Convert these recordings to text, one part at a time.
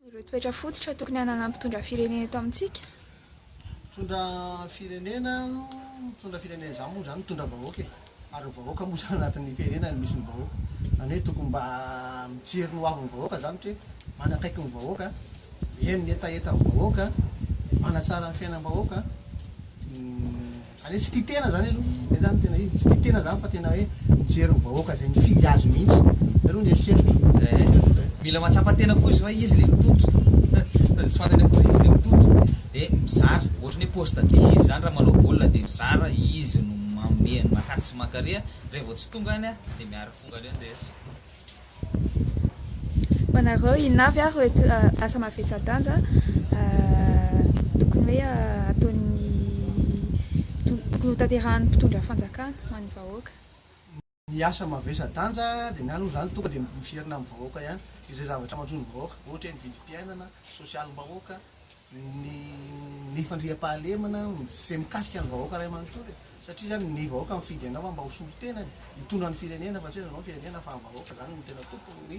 Ireo toetra fototra tokony hananan'ny mpitondra firenena eto amintsika? Mitondra firenena, mitondra firenena izany moa izany mitondra vahoaka e! Ary ny vahoaka moa izany anatin'ny firenena no misy ny vahoaka. Izany hoe tokony mba mijery ny hoavin'ny vahoaka izany ohatra hoe manakaiky ny vahoaka, mihaino ny hetahetan'ny vahoaka, manatsara ny fiainam-bahoaka, Zany hoe tsy tia tena zany aloha, zay zany tena izy, tsy tia tena zany fa tena hoe mijery ny vahoaka zay mifidy azy mihitsy, zay aloha ny eritreritro, eritreritro zay. Mila mahatsapa tena koa izy fa izy le mitoto fa de tsy fantany akory izy le mitoto de mizara ohatry ny hoe poste dix izy zany raha manao baolina de mizara izy no manome an'i makati sy mankaria, revô tsy tonga any de miara fonga any ny rehetra. Ho anareo, inona avy ary ireo asa mavesa-danja tokony hoe ataon'ny, tokony hotanterahan'ny mpitondra fanjakana ho an'ny vahoaka? Ny asa mavesa-danja dia ny ahy aloha izany tonga dia miverina amin'ny vahoaka ihany, izay zavatra manjo ny vahoaka, ohatra hoe ny vidim-piainana, sosialim-bahoaka, ny ny fandriampahalemana izay mikasika ny vahoaka iray manontolo e! satria izany ny vahoaka mifidy anao fa mba ho solon-tenany hitondra ny firenena fa tsy hoe anao ny firenena fa ny vahoaka izany no tena tompon'ny ny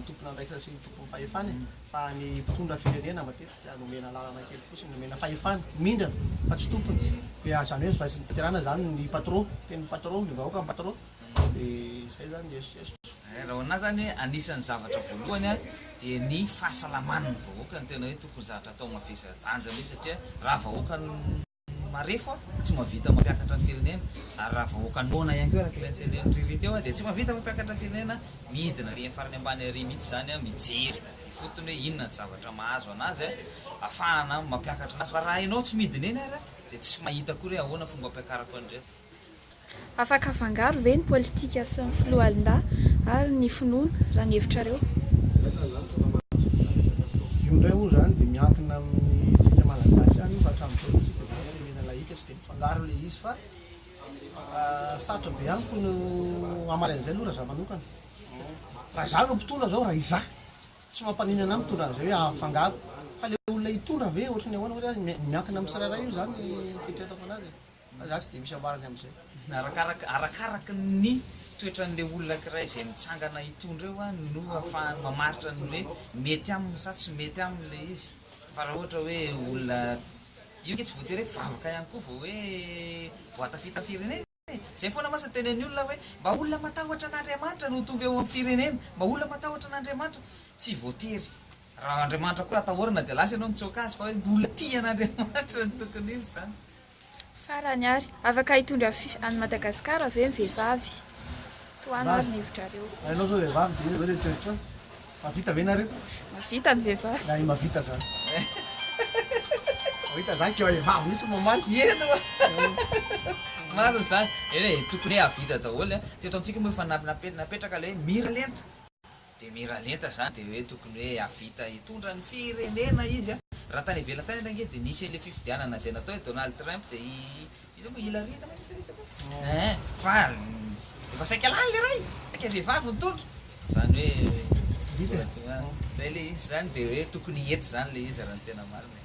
tompon'andraikitra sy ny tompon'ny fahefana e! fa ny mpitondra firenena matetika nomena alalana kely fotsiny nomena fahefana mindrana fa tsy tompony dia izany hoe nozorain'ny fitantanana izany ny patro tena ny patro ny vahoaka ny patro Raha ho anah zany anisan'ny zavatra voalohany dia ny fahasalaman'ny vahoaka no tena hoe tokony zavatra atao mavesa danja mihitsy satria raha vahoaka marefo tsy mahavita mampiakatra ny firenena ary raha vahoaka noana ihany koa araka ilay nitenen'i Riri teo dia tsy mahavita mampiakatra ny firenena, midina ary amin'ny farany ambany ary mihitsy izany mijery ifotony hoe inona ny zavatra mahazo anazy ahafahana mampiakatra anazy fa raha ianao tsy midina eny ary dia tsy mahita akory hoe ahoana fomba hampiakarako an'ireto. Afaka afangaro ve ny politika sy ny foloalindahy ary ny finoana raha ny hevitrareo? Io indray moa izany dia miankina amintsika malagasy ihany io fa hatramin'izao moa tsika izao firenena lahika tsy dia mifangaro ilay izy fa sarotra be amiko no hamaly an'izay aloha raha za manokana raha za no mpitondra zao raha izaho tsy mampaninona ahy mitondra an'izay hoe hahafangaro fa ilay olona hitondra ve ohatry ny ahoana miankina amin'ny tsirairay io izany ny fieritreretako an'azy e. Fa za tsy dia misy ambarany amin'izay. Arakaraka arakaraka ny toetran'ilay olona ankiray izay mitsangana hitondra eo an no afahany mamaritra ny hoe mety aminy sa tsy mety aminy ilay izy fa raha ohatra hoe olona io nge tsy voatery hoe mpivavaka ihany koa vao hoe voatafita firenena e! izay foana mantsy ny tenen'ny olona hoe mba olona matahotra an'Andriamanitra no tonga eo amin'ny firenena mba olona matahotra an'Andriamanitra tsy voatery raha Andriamanitra koa atahorana dia lasa ianao mitsoaka azy fa hoe ny olona tia an'Andriamanitra no tokony izy izany Farany ary, afaka hitondra fy any Madagasikara ve ny vehivavy? Tohano ary ny hevitrareo. Ary ianao zao vehivavy dia eo dia tsotra. Mahavita ve nareo? Mahavita ny vehivavy. Na i mahavita zany. Mahavita zany keo e vavy mihitsy no mamaly. Eny oa. Marina zany. Eny e, tokony hoe hahavita daholo an. Teto amintsika moa efa napetraka ilay hoe mira lenta. Dia miralenta zany dia hoe tokony hoe havita hitondra ny firenena izy a! Raha tany ivelany tany ary ange dia nisy an'ilay fifidianana zay natao i Donald Trump dia i iza moa? Hillary angamba nisy resaka ee! Fa efa saika lany le ray! Saika vehivavy nitondra! Zany hoe mbola tsy mahay! Zay le izy zany dia hoe tokony hety zany le izy raha ny tena marina e!